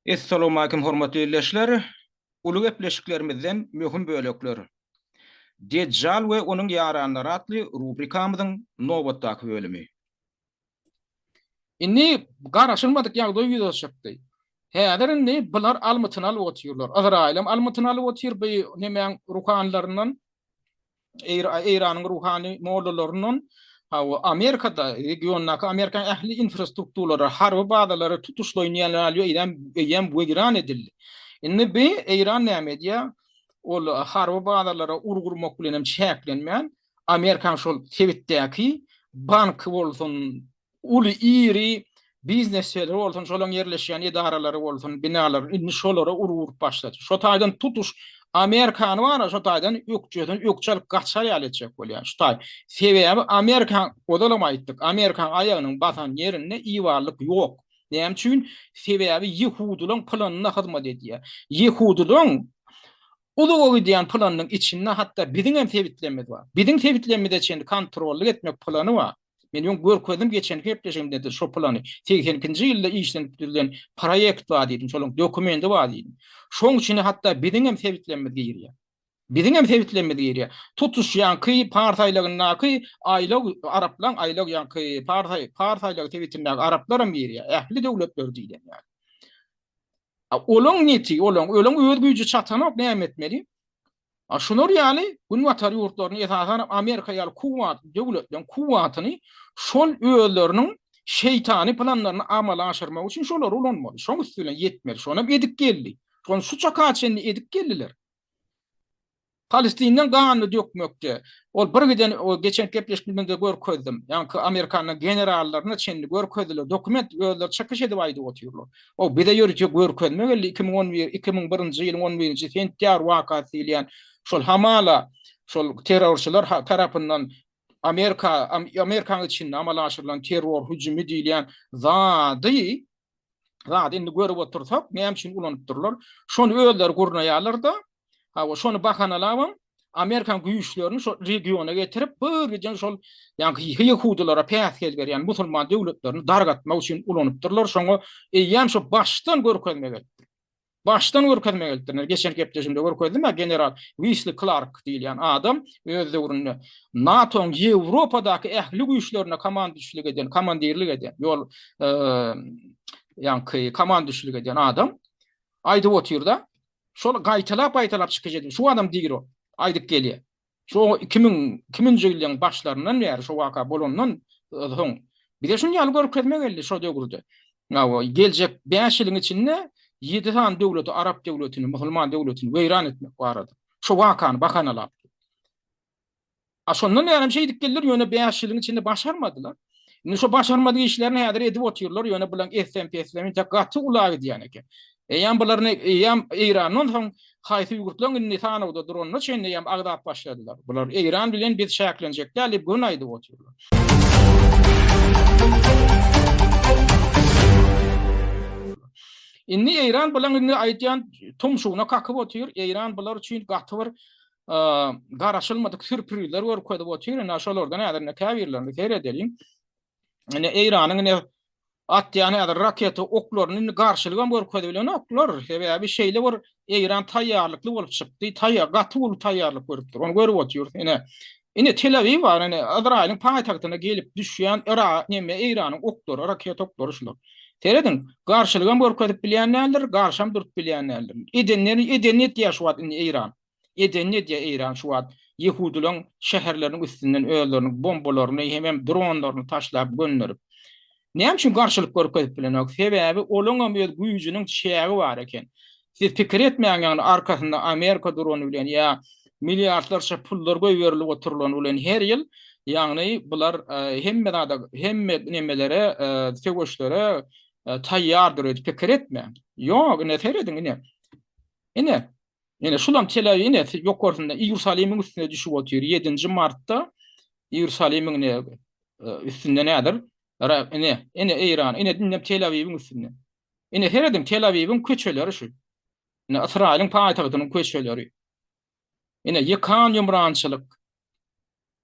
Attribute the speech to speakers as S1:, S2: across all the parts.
S1: Essalawmalikim hormatly ildeşler! Uly gepleşiklerimizden möhüm bölekler. Dejjal we onuň ýaranlary atly rubrikamyzyň nobatdaky bölümi.
S2: Indi garaşylmadyk ýagdaý ýüze çykdy. Häzir indi bular almytyny alyp otyrlar. Yzraýylam almytyny alyp otyr bu nemäň ruhanylaryndan. Eýranyň ruhany mollalaryndan hawa Amerikada regiondaky Amerikanyň ähli infrastrukturalary harby bazalary tutuşlaýyn eýýäm weýran edildi. Indi bi Eýran näme edýär? Ol harby bazalara urgy urmak bilen hem çäklenmän Amerikanyň şol sebitdäki banky bolsun Uly, iri biznes şäheri bolsun, şolaryň ýerleşýän edaralary bolsun, binalary, indi şolara urgy urup başlady. Şo taýdan tutuş Amerikany bar-a, şo taýdan ökjesini ökje alyp gaçar ýaly etjek bolýar, şu taý. Sebäbi Amerika, ozalam aýtdyk, Amerikanyň aýagynyň basan ýerinde ibarlyk ýok. Näme üçin? Sebäbi ýehudylaryň planyna hyzmat edýär. Ýehudylaryň uzaga gidýän planynyň içinde hatda biziňem sebitlerimiz bar. Biziň sebitlerimize çenli kontrollyk etmek plany bar. Men öň görkezdim geçen gepleşigimde şo plany. 80-nji ýylda işlenip düzülen proýekt bar diýdim, şonuň dokumendi bar diýdim. Şoň üçin hatda biziň hem sebitlerimiz girýär. Biziň hem sebitlerimiz girýär. Tutuş ýaňky Pars aýlagyndaky aýlag araplaň aýlag ýaňky Pars Pars aýlagy sebitindäki araplar hem girýär. Ähli döwletler diýlen ýaly. Olaň neti, olaň, olaň öz güýji çatanok näme etmeli? Şular ýaly Günbatar ýurtlaryny, esasanam Amerika ýaly kuwwatly döwletleriň kuwwatyny şol özleriniň şeýtany planlaryny amala aşyrmak üçin şolary ulanmaly. Şoň üsti bilen ýetmeli. Şonam edip geldi. Şony şu çaka çenli edip geldiler. Palestinden ganyny dökmekde, ol birgiden geçen gepleşiklerimizde görkezdim. Ýaňky Amerikanyň generallaryna çenli görkezdiler. Dokument özleri çykyş edip aýdyp otyrlar. O bize ýörite görkezme geldi, iki müň on bir, iki müň birinji ýylyň on birinji sentýabr wakasy diýilýän şol hamala şol terrorçylar tarapyndan Amerika, Amerikanyň içinde amala aşyrylan terror hüjümi diýilýän zady, zady indi görüp otursak, näme üçin ulanypdyrlar? Şony özleri gurnaýarlar-da, ha şony bahanalabam Amerikan güýçlerini şol regiona getirip, bir giden şol ýa-da ýehudylara päsgel berýän musulman döwletlerini dargatmak üçin ulanypdyrlar. Şoňa eýýäm şo başdan görkezme gelipdir. Başdan görkezme gelipdir. Geçen gepleşimde görkezdim, a general Wisli Clark diýilýän adam öz döwründe NATO-nyň Ýewropadaky ähli güýçlerine komandişlik eden, komandirlik eden, ýol ýa-da komandişlik eden adam aýdyp otyrda, Şol gaýtalap-gaýtalap çykyş edip, şu adam diri aýdyp gelýär. Şu oňa iki müň, iki müňünji ýyllaryň başlaryndan bäri, şu waka bolandan soň bize şuny ýaly görkezme geldi şo döwürde. Hawa, geljek bäş ýylyň içinde ýedi sany döwleti, arap döwletini, musulman döwletini weýran etmek barada. Şu wakany bahanalap. A şondan bäri hem şeýdip geldiler, ýöne bäş ýylyň içinde başarmadylar. Indi şo başarmadyk işlerini häzir edip otyrlar, ýöne bularyň eslem-peslemi entek gaty ula gidýän eken. Eýýäm bularyny, eýýäm Eýrandan soň haýsy ýurtlaryň indi sanawda duranyna çenli eýýäm agzap başladylar. Bular Eýran bilen biz çäklenjek däl diýip göni aýdyp otyrlar. Indi Eýran bularyň indi aýdýan tumşugyna kakyp otyr, Eýran bular üçin gaty bir garaşylmadyk sürprizler görkezip otyr. Ine şolardan häzir ine käbirlerini seredeliň. Ine Eýranyň ine atýan häzir raketa oklaryny indi garşylyk hem görkezip bilenoklar. Sebäbi şeýle bir Eýran taýýarlykly bolup çykdy. Taýýar, gaty uly taýýarlyk görüpdir. Ony görüp otyrys. Ine Ine Tel Awiw bar, ine Izraýylyň paýtagtyna gelip düşýän Ira, neme Eýranyň oklary, raketa oklary şular. Serediň, garşylyk hem görkezip bilýän däldir, garşy hem durup bilýän däldir. Edenleri edenini etýär şu wagt indi Eýran. Edenini edýär Eýran şu wagt. Ýehudylaryň şäherleriniň üstünden özleriniň bombalaryny hemem dronlaryny taşlap gönderip. Näme üçin garşylyk görkezip bilenok? Sebäbi olaň hem öz güýjüniň çägi bar eken. Siz pikir etmäň ýagny arkasynda Amerika durany bilen ýa milliardlarça pullar goýberilip oturylany bilen her ýyl ýagny bular hemme zada hemme nemelere söweşlere taýýardyr öýdüp pikir etmäň. Ýok ine serediň ine. Ine Ine, şulam tele, ine, ýokarsynda Iýerusalimiň üstüne düşüp otyr. Ýedinji martda Iýerusalimiň ine, e, üstünde nädir? Ra, ine, ine Eýran, ine indem Tel Awiwiň üstünde. Ine serediň, Tel Awiwiň köçeleri şu. Ine Ysraýylyň paýtagtynyň köçeleri. Ine ýykan ýumrançylyk,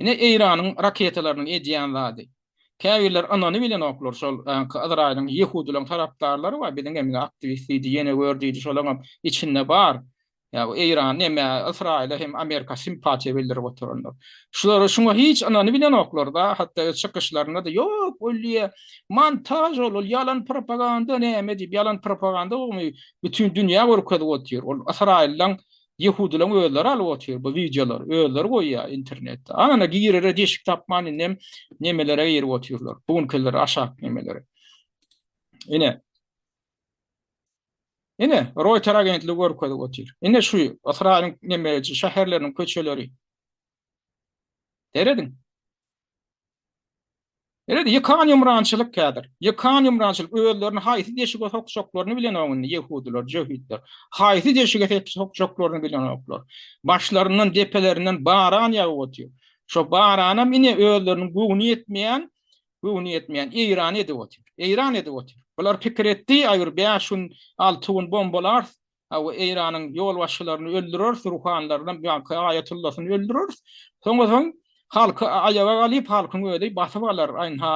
S2: Ine Eýranyň raketalarynyň edýän zady. Käbirler ynany bilenoklar şol Yzraýylyň ýehudylaryň tarapdarlary bar biziň hem aktiwist diýdi ýene gör diýdi şolaňam içinde bar ýa bu Eýran neme Ysraýyla hem Amerika simpatiýa bildirip oturanlar. Şulara şuňa hiç ynany bilenoklar da hatda öz çykyşlarynda da ýok wlýe montaž ol ol ýalan propaganda näme diýip ýalan propaganda ogmy bütin dünýä görkezip otyr ol Ysraýyllaň Ýehudylaň özleri alyp otyr bu wideolary özleri goýýar internetde. Ana girere deşik tapman indem nemelere girip otyrlar. Bu günkiler aşak nemelere. Ine. Ine Reuters agentligi görkezip otyr. Ine şu Ysraýylyň nemeje şäherleriniň köçeleri. Serediň. Indi ýykan ýumrançylyk kädir. Ýykan ýumrançylyk, özlerini haýsy deşige sokjaklaryny bilenok indi ýehudylar, jöhitler. Haýsy deşige sokjaklaryny bilenoklar. Başlaryndan, depelerinden baran ýagyp otyr. Şo baranam ine özleriniň göwni ýetmeýän, göwni ýetmeýän Eýrany edip otyr. Eýran edip otyr. Bular pikir etdi, aý bir bäş gün, alty gün bombalarys, Hawa, Eýranyň ýolbaşçylaryny öldüreris, ruhanylaryny, ýa-ha aýatullasyny öldüreris. Soňa soň halky aýaga galyp, halkyň özi basyp alar. Ynha,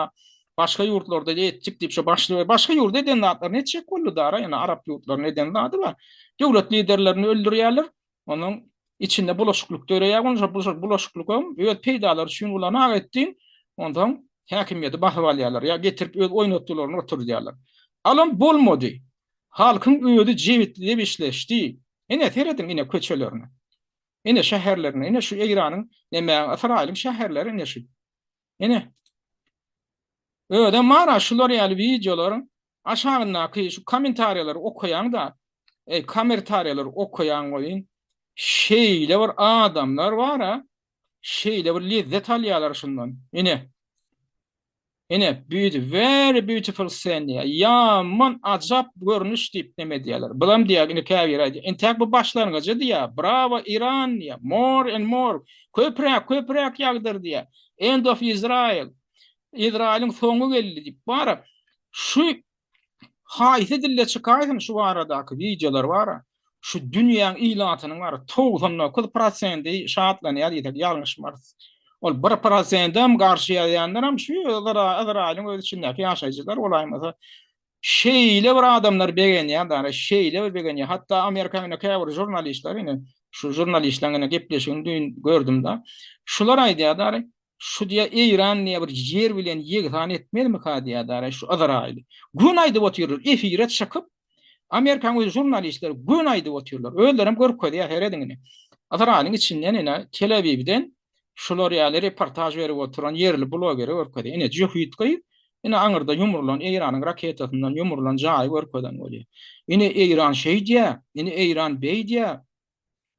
S2: başga ýurtlarda etjik diýip, şo başly, başga ýurda eden zatlaryny etjek boldy dara, ýöne arap ýurtlaryna eden zady bar. Döwlet liderlerini öldürýärler, onuň içinde bulaşyklyk döreýär, onda şo bulaşyklygam öz peýdalary üçin ulanak etdiň, onsoň häkimiýeti basyp alýarlar, ýa getirip öz oýnatgylaryny oturdýarlar. Alam bolmady. Halkyň özi jebisli-jebisleşdi. Ine, serediň, ine, köçelerine. Ine, şäherlerine. Ine, şu Eýranyň, nemäň, Ysraýylyň şäherleri, ine, şu. Ine. Özem mana şular ýaly wideolaryň aşagyndaky şu kommentariýalary okaýaň-da, eý, komertariýalary okaýaň welin, şeýle bir adamlar bar-a, şeýle bir lezzet alýarlar şundan. Ine. Ine, beauty, very beautiful scene diýýär. Ýaman ajap görnüş diýip neme edýärler. Bulam diýýär, indi käbiri aýdýar, entäk bu başlangyjy diýýär, brawo Iran diýýär, more and more, köpräk, köpräk ýagdyr diýýär, end of Israel, Izraýylyň soňy geldi diýip, bara şu Haýsy dilde çykaýsyn şu baradaky wideolar bar. Şu dünýäň ilatynyň bar 99 prosendi şatlanýar diýsek ýalňyşmarys. Ol 1 prosendem garşy ýazýanlaram şu Yzraýylyň öz içindäki ýaşaýjylar bolaýmasa şeýle bir adamlar begenýärler, şeýle bir begenýär. Hatda Amerikanyň ine käbir žurnalistleri ine şu žurnalistlaryň ine gepleşigini düýn gördüm-de. Şular aýdýarlar, Şu diýä Eýran diýä bir ýer bilen ýegsan etmezmika diýä dara şu Yzraýyly. Gün aýdyp otyrlar, efire çykyp, Amerikanyň öz žurnalistleri gün aýdyp otyrlar. Özlerem görkezýär serediň ine. Yzraýylyň içinden ine Tel-Awibden şular ýaly reportaž berip oturan ýerli blogeri görkezýär. Ine jöhit gyz, ine aňyrda ýumrulan Eýranyň raketasyndan ýumrulan jaýy görkezen bolýar. Ine Eýran şeý diýä, ine Eýran beý diýä.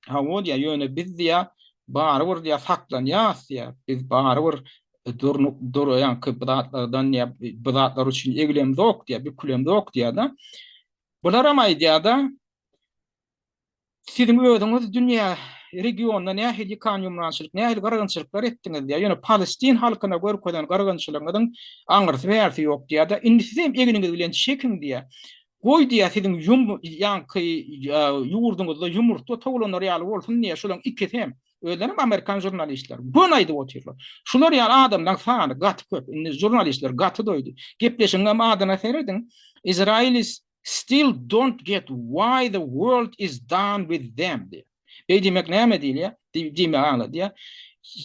S2: Hawa diýýär, ýöne biz diýýär, barybir diýýär, saklanýarys diýýär. Biz barybir durnuk duraýanky bu zatlardan diýýär, bu zatlar üçin eglemzok diýýär, bükülemzok diýýär-de. Bularam aýdýar-da, Siziň özüňiz dünýä regionda nähili kanýumrançylyk, nähili gyrgynçylyklar etdiňiz diýýär. Ýöne palestin halkyna görkezen gyrgynçylygyňyzyň aňyrsy-bärsi ýok diýýär-de. Indi sizem egniňiz bilen çekiň diýýär. Goý diýýär, siziň ýum ýaňky ýurduňyzda ýumurtga towlanlar ýaly bolsun diýýär, şolaryň ikisi hem, özlerem amerikan žurnalistler, göni aýdyp otyrlar. Şular ýaly adamlaryň sany gaty köp, indi žurnalistler gaty doýdy. Gepleşigiňem adyna serediň, Israelis still don't get why the world is done with them diýýär. Beý diýmek näme diýilýär? Diýmek aňladýar.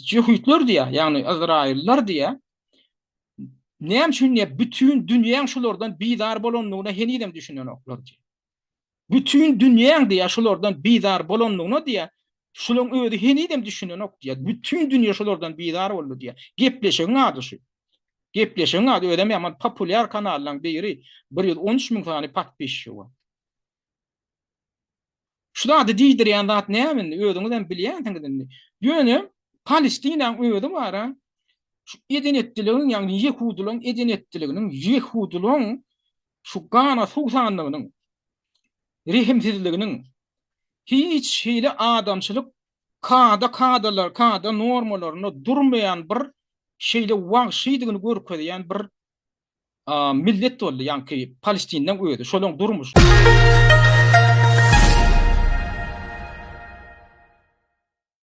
S2: Ýehudlar diýýär, ýagny yzraýyllar diýýär, Näme üçin diýip, bütin dünýäň şulardan bizar bolandygyna henizem düşünenoklar diýip. Bütin dünýäň diýip, şulardan bizar bolandygyna diýip, şulan özi henizem düşünenok diýip. Bütin dünýä şulardan bizar boldy diýip. Gepleşigiň ady şu. Gepleşigiň ady özem ýaman populýar kanallaryň biri. 113 müň sany patpisçi bar. Şu zady diýdirýän zat näme indi? Özüňiz hem bilýänsiňiz indi. Ýöne Palestinanyň özi bara şu eden etdiligiň, ýagny ýehudylaryň eden etdiliginiň, ýehudylaryň şu gana suwsanlygynyň, rehimsizliginiň, hiç hili adamçylyk kada-kadalar, kada normalarynda durmaýan bir şeýle wagşydygyny görkezýän bir millet boldy ýaňky palestinleň özi şolaň durmuş